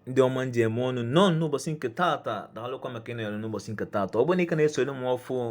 ndị ọma m ji eme ọnụ nnọọ n'ụbọchị nke taata daalụkwa maka ịnọnyere n'ụbọchị nke taata ọ bụrụ na ị ka na-esonye m ọfụụ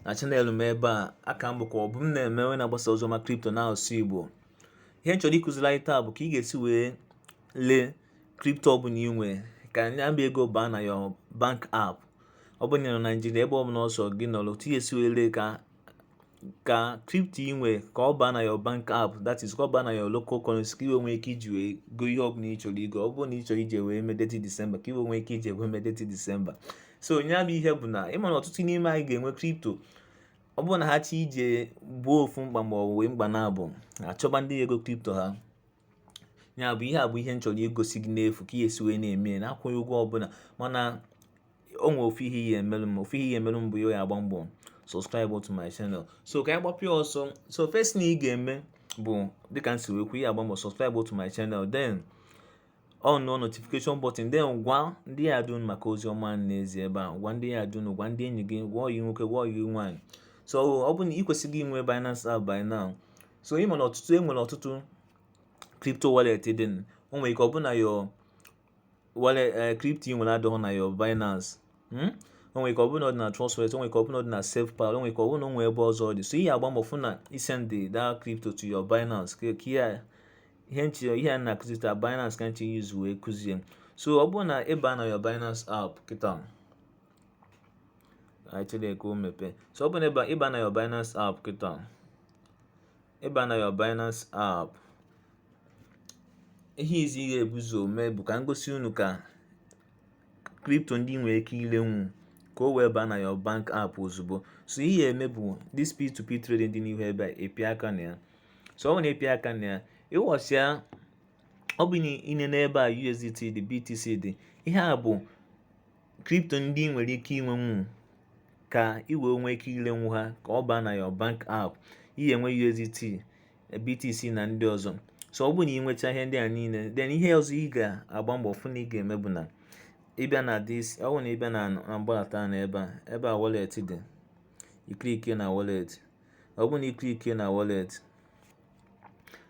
na chanel m ebe a a ka m bụkwa obumneme onye na-agbasa ozi ọma kripto n'asụsụ igbo ihe m chọrọ ịkụziri anyị taa bụ ka ị ga-esi wee lee kripto ọbụla ị nwe ka nya bụ ego baa na your bank app ọ bụrụ na ị nọ na naijiria ebe ọbụla ọ sọ gị nọrọ otu ị ga-esi wee lee ka ka crypto ị nwere ka ọ baa na your bank app that is ka ọ baa na your local currency ka i wee nwee ike iji wee go ihe ọbụla ị chọrọ igo ọ bụrụ na ị chọrọ iji wee mee Detty December ka i wee nwee ike iji wee mee Detty December so nya bụ ihe bụ na ịma na ọtụtụ n'ime anyị ga-enwe crypto ọ bụrụ na ha chọ iji gboo ofu mkpa ma ọ bụ mkpa naabọ achọba ndị ego crypto ha ya bụ ihe bụ ihe m chọrọ igosi gị n'efu ka ị ya-esi wee na-eme na-akwụghị ụgwọ ọbụla mana o nwere ofu ihe ị ya-emelụ m ofu ihe ị ya-emelụ m bụ ị ya-agba mbọ subscribe to my channel so ka anyị gbapịa ọsọ so first thing ị ga-eme bụ dịka m si wee kwuo ị ya-agba mbọ subscribe to my channel then on notification button then gwa ndị yard unu maka ozi ọma m na-ezi ebe a gwa ndị yard unu gwa ndị enyi gị gwa ọyị nwoke gwa ọyị nwaanyị so ọ bụ na ị kwesịgo inwe Binance app by now so ị ma na ọtụtụ e nwere ọtụtụ crypto wallet dị o nwere ike ọ bụ na your wallet eh, crypto ị nwere adịghị na your Binance hmm? o nwere ike ọ bụrụ na ọ dị na Trust Wallet o nwere ike ọ bụrụ na ọ dị na SafePal o nwere ike ọ bụrụ na o nwere ebe ọzọ ọ dị so ị ya-agba mbọ fụ na ị sendị that crypto to your Binance ka ihe ihe m chọ ihe a na-akụzi taa Binance ka m chọ iuse wee kụzie so ọ bụrụ na ị baa na your Binance app kịta anyị chere ka o mepee so ọ bụrụ na ị baa na your Binance app kịta ị baa na your Binance app ihe izi ị ga-ebu ụzọ mee bụ ka m gosi unu ka kripto ndị ị nwere ike ilenwu ka o wee baa na your bank app ozugbo so ihe ị ya-eme bụ this P2P trading dị n'ihu ebe a ị pịa aka na ya so ọ bụ na ị pịa aka na ya ịghọsịa ọ bụ na ị nee n'ebe a USDT dị BTC dị ihe a bụ kripto ndị ị nwere ike inwenwu ka ị wee nwee ike ilenwu ha ka ọ baa na your bank app ị ya-enwe USDT BTC na ndị ọzọ so ọ bụrụ na ị nwecha ihe ndị a niile then ihe ọzọ ị ga-agba mbọ fụ na ị ga-eme bụ na ị bịa na this ọ bụrụ na ị bịa na mgbalata na ebe a ebe a wallet dị ị klikie na wallet ọ bụrụ na ị klikie na wallet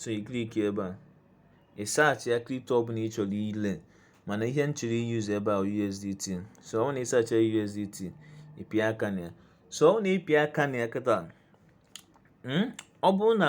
so ị klikie ebe a ị saachịa kripto ọbụla ị chọrọ ile mana ihe m chọrọ iyuzu ebe a USDT so ọ bụ na ị saachịa USDT ị pịa aka na ya so ọ bụ na ị pịa aka na ya kịta hmm, ọ bụrụ na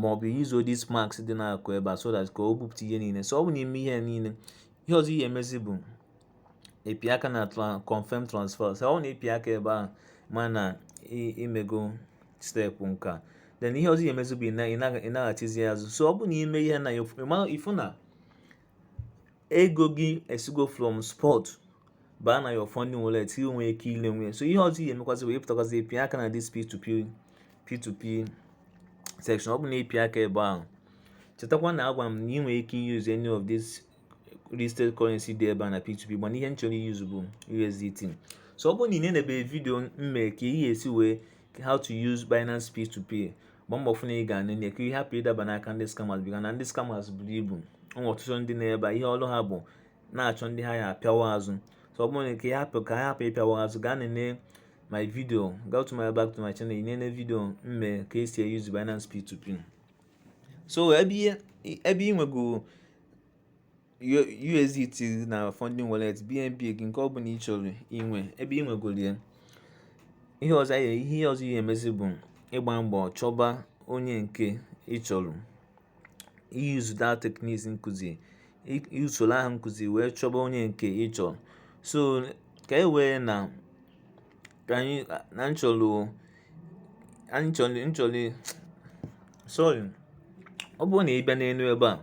ma ọ bụ use this max dị n'akụkụ ebe a so that ka o bupụta ihe niile so ọ bụ n'i me ihe niile ihe ọzọ ị ya-emezi bụ ịpị aka na confirm transfer so ọ bụ na ị pịa aka ebe ahụ ma na i mego step nke a then ihe ọzọ ị ya-emezi bụ ịnaghachizi azụ so ọ bụ n'i me ihe a ị fụ na ego gị esigo from spot baa na your funding wallet ị nwere ike ilenwu ya so ihe ọzọ ị ya-emekwazi bụ ịpụtakwazi ịpị aka na this p2p p2p section ọ bụ na ị pịa aka ebe ahụ chetakwa na agwa m na ị nwere ike use any of this listed currency dị ebe a na p2p mana ihe m chọrọ use bụ usdt so ọ bụrụ na i nenebe vidio m mere ka ị ga-esi wee how to use binance p2p gba mbọ fụ na ị ga-enene ya ka ị hapụ ịdaba n'aka ndị scammers bịa na ndị scammers buru ibu e nwere ọtụtụ ndị nọ ebe ihe ọrụ ha bụ ịna-achọ ndị ha ya-apịawa azụ so ọ bụrụ na ka ya hapụ ka ha hapụ ịpịawa azụ gaa nene my video go to my back to my channel nene video m me ka esi eyuzu Binance P2P so ebe ị nwego USDT na funding wallet BNB gị nke ọ bụla ị chọrọ inwe ebe ị nwegoro ya ihe ọzọ ihe ọzọ ị ya-emezi bụ ịgba mbọ chọba onye nke ị chọrọ iyuzu that techniques m kụzi usoro ahụ m kụzi wee chọba onye nke ị chọrọ so ka e wee na ka anyị na m chọlụ anyị chọlị m chọlụ sorry ọ bụrụ na ị bịa n'elu ebe a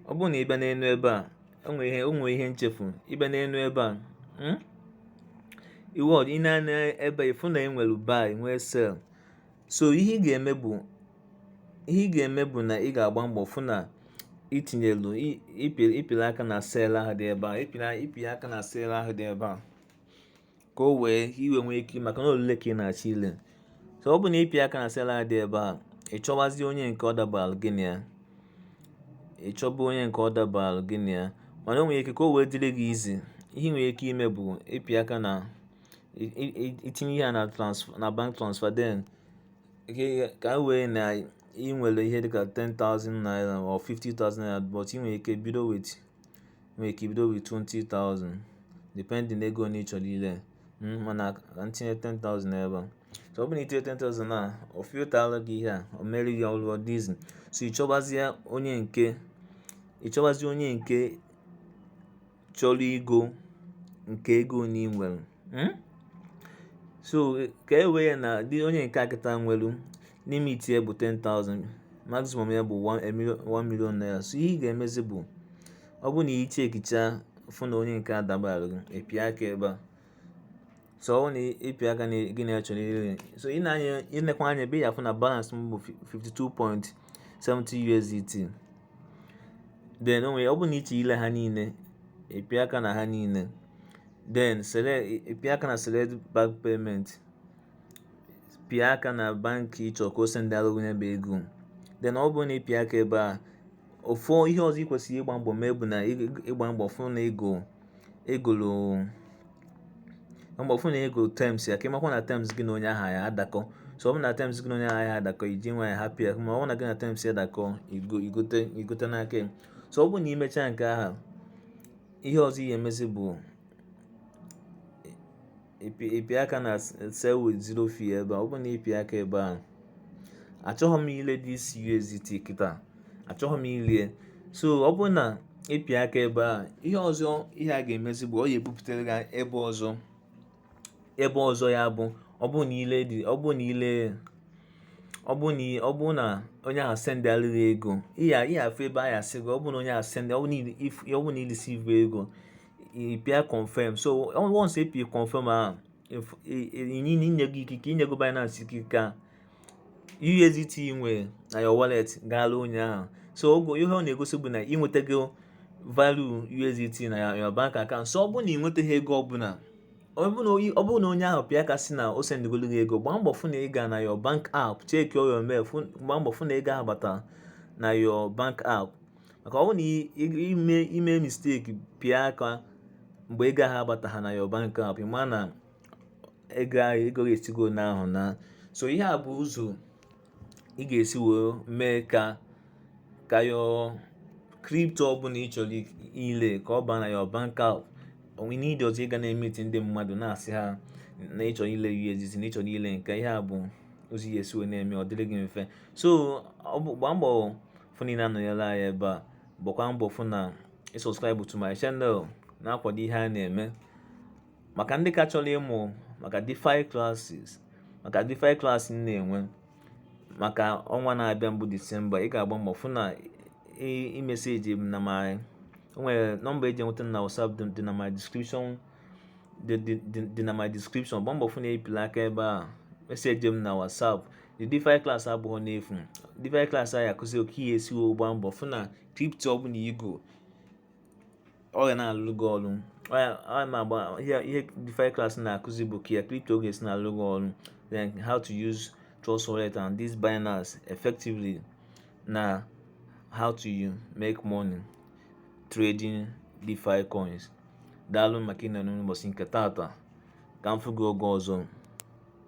ọ bụrụ na ị bịa n'elu ebe a enwe ihe o nwe ihe m chefu ị bịa n'elu ebe a hmm? iwe ọdị ị nee anya ebe a ị fụ na enwere buy nwee sell so ihe ị ga-eme bụ ihe ị ga-eme bụ na ị ga-agba mbọ fụ na i tinyelu ị pịrị aka na sell ahụ dị ebe a ị pịrị aka na sell ahụ dị ebe a ka o wee i wee nwee ike maka na olule ka ị na-achọ ile so ọ bụ na ị pịa aka na sell a dị ebe a ị chọwazi onye nke ọ dabara gị na ya ị chọba onye nke ọ dabara gị na ya mana o nwere ike ka o wee dịrị gị easy ihe ị nwere ike ime bụ ịpị aka na itinye ihe a na transfer na bank transfer then ka e wee na ị nwere ihe dịka 10,000 naira or 50,000 naira but ị nwere ike bido with i nwere ike ibido with 20,000 depending ego ole ị chọrọ ile mm, mana ka m tinye 10,000 ebe a so ọ bụrụ na i tinye 10,000 a ọ filtara gị ihe a o mere gị ọlụ ọ dị easy so ị chọbazie onye nke ị chọbazie onye nke chọrọ igo nke ego ole ị nwere hmm? so ka e wee na dị onye nke a kịta nwelu limit ya bụ 10,000 maximum ya bụ 1 million naira so ihe ị ga-emezi bụ ọ bụrụ na ị chekicha fụ na onye nke adabara gị ịpịa aka ebe a so ọ bụ na ịpịa aka na gịnwa chọrọ ire so ịnekwa anya ebe a ị ya-afụ na balance m bụ 52.70 USDT then ọ bụrụ na ịchọ ile ha niile ịpịa aka na ha niile then ịpịa aka na select bank payment pịa aka na bank ịchọ ka o sendalụ gị ya bụ ego then ọ bụrụ na ị pịa aka ebe a ofu ihe ọzọ ị kwesịrị ịgba mbọ mee bụ na ịgba mbọ fụ na ị gụọ terms ya ka ịmakwa na terms gị na onye ahụ ya adakọ so ọ bụ na terms gị na onye ahụ ya adakọghị ji nwayọ hapụ ya ma ọ bụ na gị na terms ya dakọ igote n'aka ya so ọ bụ na imechaa nke ahụ ihe ọzọ ị ya-emezi bụ ịpịa aka na sell with zero fee ebe a ọ bụ na ịpịa aka ebe a achọghị m ile this USDT kịta achọghị m ile ya so ọ bụ na ịpịa aka ebe a ihe ọzọ ihe ga-emezi bụ ọ ya-ebupụtara gị ebe ọzọ ya bụ ọ bụ na ọ bụ na onye ahụ sendalụ gị ego ị ya-afụ ebe a ya-asị gị ọ bụ na onye ahụ ọ bụ na ị receive ego ị pịa confirm so once ị pịa confirm ahụ inyego ikike inyego Binance ikike ka USDT ị nwere na your wallet gaala onye ahụ so ihe ọ na-egosi bụ na ị nwetago value USDT na your bank account so ọ bụrụ na ị nwetaghị ego ọbụla ọ bụrụ na onye ahụ pịa aka sị na o sendịgolu gị ego gbaa mbọ fụ na ị gaa na your bank app check your mail gbaa mbọ fụ na ego ahụ batara na your bank app maka ọ bụ na ime mistake pịa aka mgbe ego ahụ abataha na your bank app ma na ego ahụ esigo n'ahụ naa so ihe a bụ ụzọ ị ga-esi wee mee ka ka your crypto ọbụla ị chọrọ ile ka ọ baa na your bank app o nweghị need ọzọ ịga na-emeti ndị mmadụ na-asị ha na ịchọ ile USDT na ịchọ ile nke ihe a bụ ụzọ ị ya-esi wee na-eme ọ dịrị gị mfe so gbaa mbọ fụ na ị na-anọnyere anyị ebe a gbakwa mbọ fụ na ị subscribe to my channel na-akwado ihe a na-eme maka ndị ka chọrọ ịmụ maka DeFi classes maka DeFi class m na-enwe maka ọnwa na-abịa bụ December ị ga-agba mbọ fụ na ị message m na my o nwere nọmba eji enweta na WhatsApp dị na my description gba mbọ fụ na ị pịala aka ebe a message m na WhatsApp the DeFi class abụhọ n'efu DeFi class anyị akụzi oke ihe esi wee gbaa mbọ fụ na crypto ọbụla i go ọ ga na-alụ gị ọrụ ihe DeFi class na-akụzi bụ ka crypto ga-esi na-alụ gị ọrụ then how to use Trust Wallet and this Binance effectively na how to make money trading DeFi coins daalụ maka ịnọ n'ụbọchị nke taata ka m fụ gị oge ọzọ